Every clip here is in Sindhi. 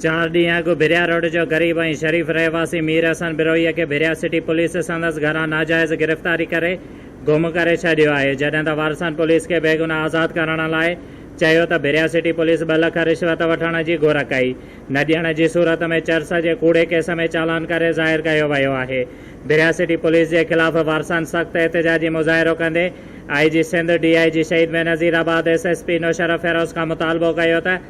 چار ڏينهن اڳ ڀريا روڊ جو غريب ۽ شريف رهواسي مير حسن بروهيء کي ڀريا سٽي پوليس سندس گهران ناجائز گرفتاري ڪري گم ڪري ڇڏيو آهي، جڏهن ته وارثن پوليس کي بيگناهه آزاد ڪرڻ لاء چيو ته ڀريا سٽي پوليس ٻه لک رشوت وٺڻ جي گهر ڪئي، نه ڏيڻ جي صورت ۾ چرس جي ڪوڙي ڪيس ۾ چالان ڪري ظاهر ڪيو ويو آهي، ڀريا سٽي پوليس جي خلاف وارثن سخت احتجاجي مظاهرو ڪندي آء جي Sindh, D I G Shaheed Benazirabad, S S P Naushahro Feroze کان مطالبو ڪيو ته.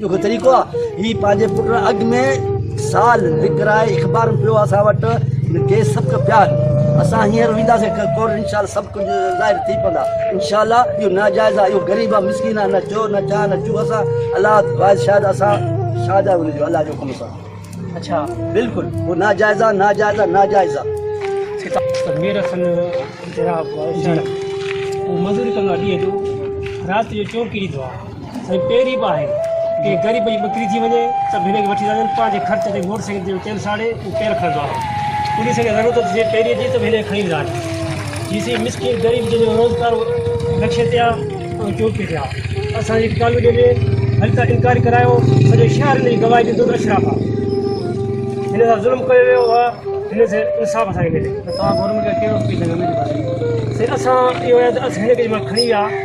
ڏکيو طريقو آ هي پنهنجي پٽ لاء اڳ ۾ سال وڪرائي اخبارون پيو اسان وٽ ڪيس سبق پيا اسان هينئر وينداسين ڪورٽ انشاء الله سڀ ڪجهه ظاهر ٿي پوندا انشاء الله اهو ناجائز آ اهو غريب آ مسڪين آ نه چور نه چار نه چوء اسان الله واحد شاهد اسان شاهد آهيون ان جو الله جي حڪم سان اڇا بلڪل اهو ناجائز آ ناجائز آ ناجائز آ مير حسن جناب مزوري ڪندو آ ڏينهن جو رات جو چور ڪري ايندو آ سائين پهرين به آهي ڪنهن غريب جي ٻڪري ٿي وڃي ته به هن کي وٺي ٿا وڃن پنهنجي خرچ تي موٽر سائيڪل تي تيل ساڙي هو تيل کڻندو آهي پوليس کي ضرورت هوندي سائين پهرين جي ته به هن کي کڻي ويندا آهن جي سائين مسڪين غريب جن جو روزگار نقشي تي آهي ۽ چوڪي تي آهي اسان جي ڪالوني ۾ هل ته انڪوائري ڪرايو سڄو شهر هن جي گواهي ڏيندو ته اشراف آهي هن سان ظلم ڪيو ويو آهي هن سان انصاف اسان کي ملي ته توهان گورنمينٽ کي ڪهڙو اپيل ڪندا سائين اسان اهو آهي ته اسان هن کي جي مهل کڻي ويا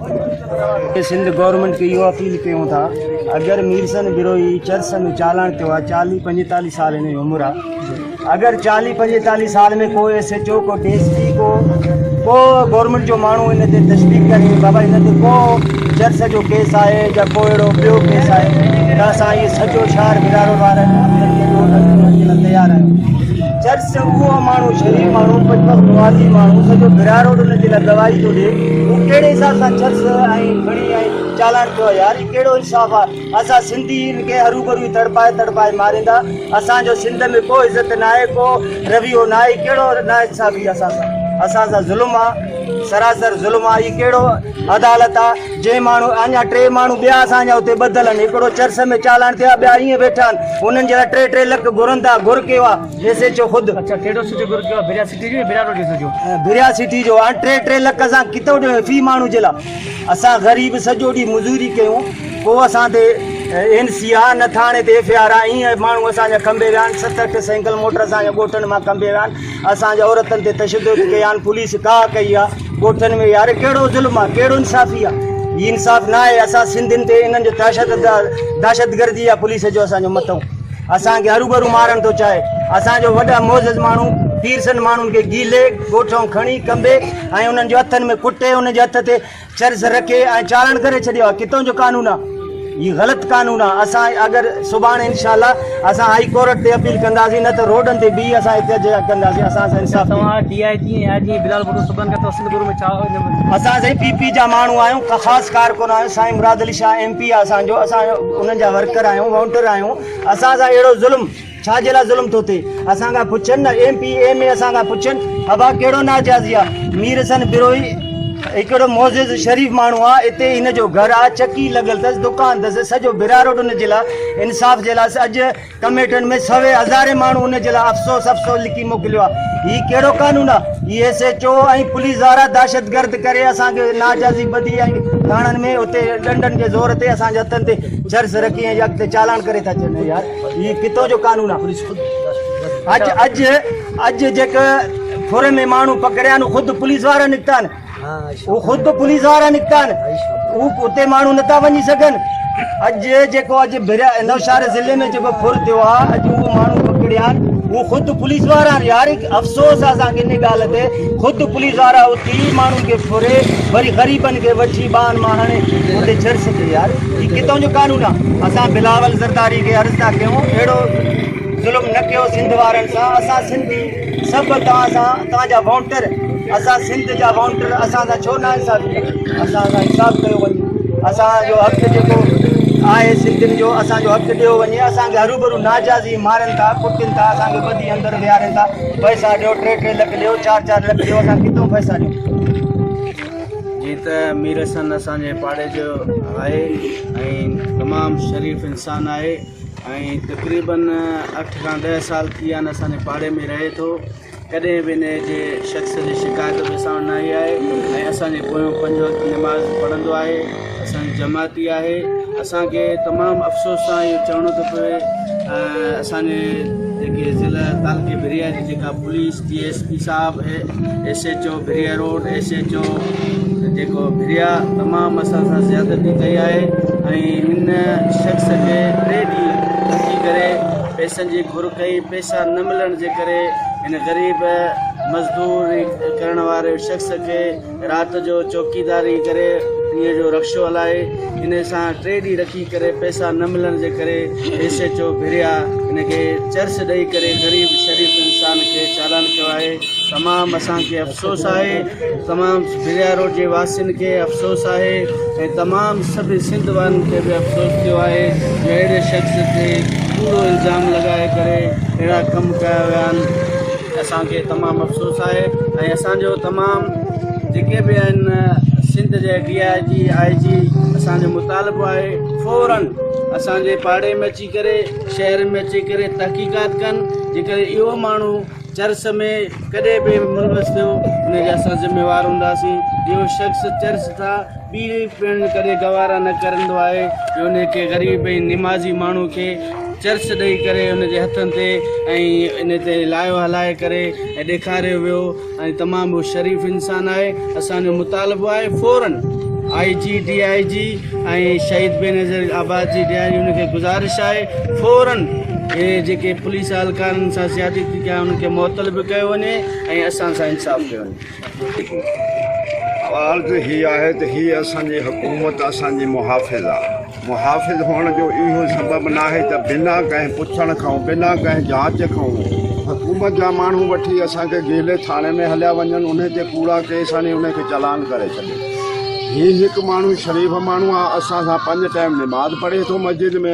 ۽ سنڌ گورنمينٽ کي اهو اپيل ڪيون ٿا اگر ميرسن بروهي چرس ۾ چالان ٿيو آهي چاليهه پنجيتاليهه سال هن جي عمر آهي اگر چاليهه پنجيتاليهه سال ۾ ڪو ايس ايچ او ڪو ڊي ايس پي ڪو ڪو گورنمينٽ جو ماڻهو هن تي تشديق ڪري بابا هن تي ڪو چرس جو ڪيس آهي يا ڪو اهڙو ٻيو ڪيس آهي ته اسان اهي سڄو شهر برارو وارن تيار آهيون چرس اهو ماڻهو شريف ماڻهو پٽڪس نوازي ماڻهو سڄو بهراء روڊ ان جي لاء گواهي ٿو ڏي هو ڪهڙي حساب سان چرس ۽ کڻي ۽ چالان ٿيو آهي يار هي ڪهڙو انصاف آ اسان سنڌي هن کي هروڀرو ئي تڙپائي تڙپائي ماريندا اسان جو سنڌ ۾ ڪو عزت ناهي ڪو رويو ناهي هي ڪهڙو ناانصافي اسان سان اسان سان ظلم آ سراسر ظلم آ هي ڪهڙو عدالت آ جي ماڻهو اڃا ٽي ماڻهو ٻيا اسان جا اتي ٻڌل آهن هڪڙو چرس ۾ چالان ٿيو آهي ٻيا ائين ويٺا آهن انهن جي لاء ٽي ٽي لک گهرن ٿا گهر ڪيو آهي ايس ايڇ او خود ڀريا سٽي جو هاڻ ٽي ٽي لک اسان ڪتو ڏيون في ماڻهو جي لاء اسان غريب سڄو ڏينهن مزوري ڪيون ڪو اسان تي اين سي آ نه ٿاڻي تي ايف آر آ ائين ماڻهو اسان جا کنڀي ويا آهن ست اٺ سينگل موٽر اسان جا ڳوٺن مان کنڀي ويا آهن اسان جي عورتن تي تشدد ڪيا آهن پوليس ڪا ڪئي آ ڳوٺن ۾ يار ڪهڙو ظلم آ ڪهڙو انصافي آ هي انصاف نه آهي اسان سنڌين تي انهن جو دهشت دهشتگردي آ پوليس جو اسان جو متو اسان کي هروبرو مارڻ ٿو چاهي اسان جو وڏا معزز ماڻهو پيرسن ماڻهن کي گيلي ڳوٺ کڻي ڪنبي ۽ انهن جو هٿن ۾ ڪٽي انهن جي هٿ تي چرس رکي ۽ چارڻ ڪري ڇڏيو آ ڪتو جو قانون آ هي غلط قانون آ اسان اگر سبحان انشاءالله اسان هائي ڪورٽ تي اپيل ڪنداسين نه ته روڊن تي بي اسان احتجاج ڪنداسين اسان سان انصاف توهان ڊي آئي جي آئي جي بلال بھٽو سبحان ڪتو سنڌ گرو ۾ چاء اسان سائين پي پي جا ماڻهو آهيون خاص ڪارڪن آهيون سائين مراد علي شاهه ايم پي آ اسان جو اسان انهن جا ورڪر آهيون وونٽر آهيون اسان سان اهڙو ظلم ڇا جي لاء ظلم ٿو ٿئي اسان کان پڇن نه ايم پي ايم اي اسان کان پڇن ابا ڪهڙو ناجازي آ مير حسن بروهي هڪڙو معزز شريف ماڻهو آ اتي هن جو گهر آ چڪي لڳل ٿس دڪان ٿس سڄو براروڊ ان جي لاء انصاف جي لاء اڄ ڪميٽن ۾ سوين هزارين ماڻهو ان جي لاء افسوس افسوس لکي موڪليو آ هي ڪهڙو قانون آ هي ايس ايچ او ۽ پوليس وارا دهشت گرد ڪري اسان کي ناجازي ٻڌي ۽ ٿاڻن ۾ اتي ڏنڊن جي زور تي اسان جي هٿن تي چرس رکي ۽ اڳتي چالان ڪري ٿا ڇڏن يار هي ڪٿان جو قانون آ پوليس خود اڄ اڄ اڄ جيڪ ٿوري ۾ ماڻهو پڪڙيا نو خود پوليس وارا نڪتا آهن هو خود پوليس وارا نڪتا آهن هو اتي ماڻهو نٿا وڃي سگهن اڄ جيڪو اڄ نوشهر ضلع ۾ جيڪو ڦر ٿيو آهي اڄ هو ماڻهو پڪڙيا آهن هو خود پوليس وارا آهن يار افسوس آهي اسان کي ان ڳالهه تي خود پوليس وارا اتي ماڻهن کي ڦري وري غريبن کي وٺي ٻانهن مان هڻي اتي ڇڏ سگهي يار هي ڪتو جو قانون آ اسان بلاول زرداري کي عرض ٿا ڪيون اهڙو ظلم نه ڪيو سنڌ وارن سان اسان سنڌي سڀ توهان سان توهان جا وونٽر اسان سنڌ جا وونٽر اسان سان ڇو نه انصافي ڪيو اسان سان انصاف ڪيو وڃي اسان جو حق جيڪو آهي سنڌين جو اسان جو حق ڏيو وڃي اسان کي هروبرو ناجازي مارن ٿا ڪٽن ٿا اسان کي ٻڌي اندر ويهارين ٿا پئسا ڏيو ٽي ٽي لک ڏيو چار چار لک ڏيو اسان کي ڪتو پئسا ڏيو جيئن ته مير حسن اسان جي پاڙي جو آهي ۽ تمام شريف انسان آهي ۽ تقريبن اٺ کان ڏهه سال ٿي ويا آهن اسان جي پاڙي ۾ رهي ٿو ڪڏهن به ان جي شخص جي شڪايت به اسان وٽ نه آئي آهي ۽ اسان جي پويون پنج وقت نماز پڙهندو آهي اسان جي جماعتي آهي اسان کي تمام افسوس سان اهو چوڻو ٿو پوي اسان جي جيڪي ضلع تعلقي بريا جي جيڪا پوليس ڊي ايس پي صاحب S H O Bhiria road S H O جيڪو بريا تمام اسان سان زيادتي ڪئي آهي ۽ ان شخص کي ٽي ڏينهن رکي ڪري پيسن جي گهر ڪئي پيسا نه ملڻ جي ڪري ان غريب مزدور ڪرڻ واري شخص کي رات جو چوڪيداري ڪري ڏينهن جو رڪشو هلائي ان سان ٽي ڏينهن رکي ڪري پئسا نه ملڻ جي ڪري ايس ايچ او ڀريا ان کي چرس ڏئي ڪري غريب شريف انسان کي چالان ڪيو آهي تمام اسان کي افسوس آهي تمام ڀريا روڊ جي واسين کي افسوس آهي ۽ تمام سڀ سنڌ وارن کي به افسوس ٿيو آهي جو اهڙي شخص تي ڪوڙو الزام لڳائي ڪري اهڙا ڪم ڪيا ويا آهن اسان کي تمام افسوس آهي ۽ اسان جو تمام جيڪي به آهن سنڌ جي ڊي آء جي آء جي اسان جو مطالبو آهي فورن اسان جي پاڙي ۾ اچي ڪري شهر ۾ اچي ڪري تحقيقات ڪن جيڪر اهو ماڻهو چرس ۾ ڪڏهن به ملوث ٿيو ان جا اسان ذميوار هونداسين اهو شخص چرس تھا ٻي پڻ ڪڏهن گوارا نه ڪرندو آهي جو ان کي غريب ۽ نمازي ماڻهو کي چرس ڏئي ڪري ان جي هٿن تي ۽ ان تي لايو هلائي ڪري ۽ ڏيکاريو ويو ۽ تمام هو شريف انسان آهي اسان جو مطالبو آهي فورن آئي جي ڊي آئي جي ۽ شهيد بينظير آباد جي ڊي آئي جي ان کي گزارش آهي فورن اهي جيڪي پوليس اهلڪارن سان زيادتي ٿي ڪيا ان کي معطل به ڪيو وڃي ۽ اسان سان انصاف ڪيو وڃي عرض هي آهي ته هي اسان جي حڪومت اسان جي محافظ آ. محافظ هئڻ جو اهو سبب ناهي ته بنا ڪنهن پڇڻ کان بنا ڪنهن جاچ کان حڪومت جا ماڻهو وٺي اسان کي گيلي ٿاڻي ۾ هليا وڃن انهي تي ڪوڙا ڪيس هڻي انهي کي چالان ڪري ڇڏين. هي هڪ ماڻهو شريف ماڻهو آ اسان سان پنج ٽيم نماز پڙهي ٿو مسجد ۾.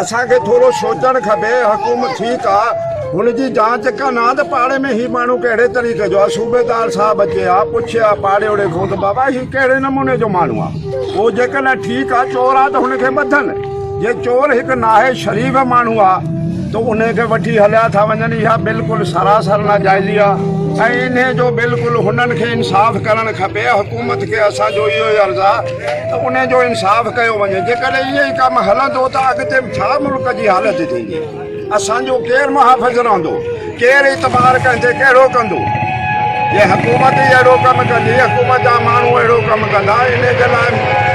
اسان کي ٿورو سوچڻ کپي حڪومت ٺيڪ آ هن جي جانچ ڪن ها ته پاڙي ۾ هي ماڻهو ڪهڙي طريقي جو آ صوبيدار صاحب اچي ها پڇي ها پاڙيوڙي کان ته بابا هي ڪهڙي نموني جو ماڻهو آ پو جيڪڏهن ٺيڪ آ چور آ ته هن کي ٻڌن جي چور هڪ ناهي شريف ماڻهو آ ته ان کي وٺي هليا ٿا وڃن اها بلڪل سراسر ناجائزي آ ۽ انهي جو بلڪل هنن کي انصاف ڪرڻ کپي حڪومت کي اسان جو اهو ئي عرض آ ته ان جو انصاف ڪيو وڃي جيڪڏهن ائين ئي ڪم هلندو ته اڳتي ڇا ملڪ جي حالت ٿيندي اسان جو ڪير محافظ رهندو ڪير اعتبار ڪنهن تي ڪهڙو ڪندو جي حڪومت ئي اهڙو ڪم ڪندي حڪومت جا ماڻهو اهڙو ڪم ڪندا ان جي لاء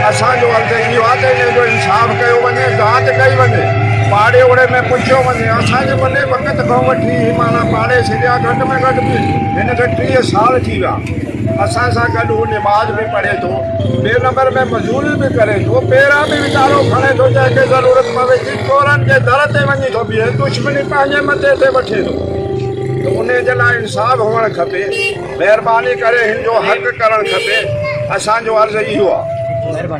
اسان جو عرض اهو آهي ته ان جو انصاف ڪيو وڃي جاچ ڪئي وڃي پاڙي اوڙي ۾ پڇيو وڃي اسان جي وڏي وقت کان وٺي مانا پاڙي سريا گهٽ ۾ گهٽ به هن کي ٽيهه سال ٿي ويا اسان سان گڏ هو نماز به پڙهي ٿو ٻئي نمبر ۾ مزوري به ڪري ٿو، پيرا به ويچارو کڻي ٿو، جنهن کي ضرورت پوي ٿي، چورن جي در تي وڃي ٿو بيهي، دشمني پنهنجي مٿي تي وٺي ٿو ته انهي جي لاء انصاف هئڻ کپي، مهرباني ڪري هن جو حق ڪرڻ کپي، اسان جو عرض اهو آ.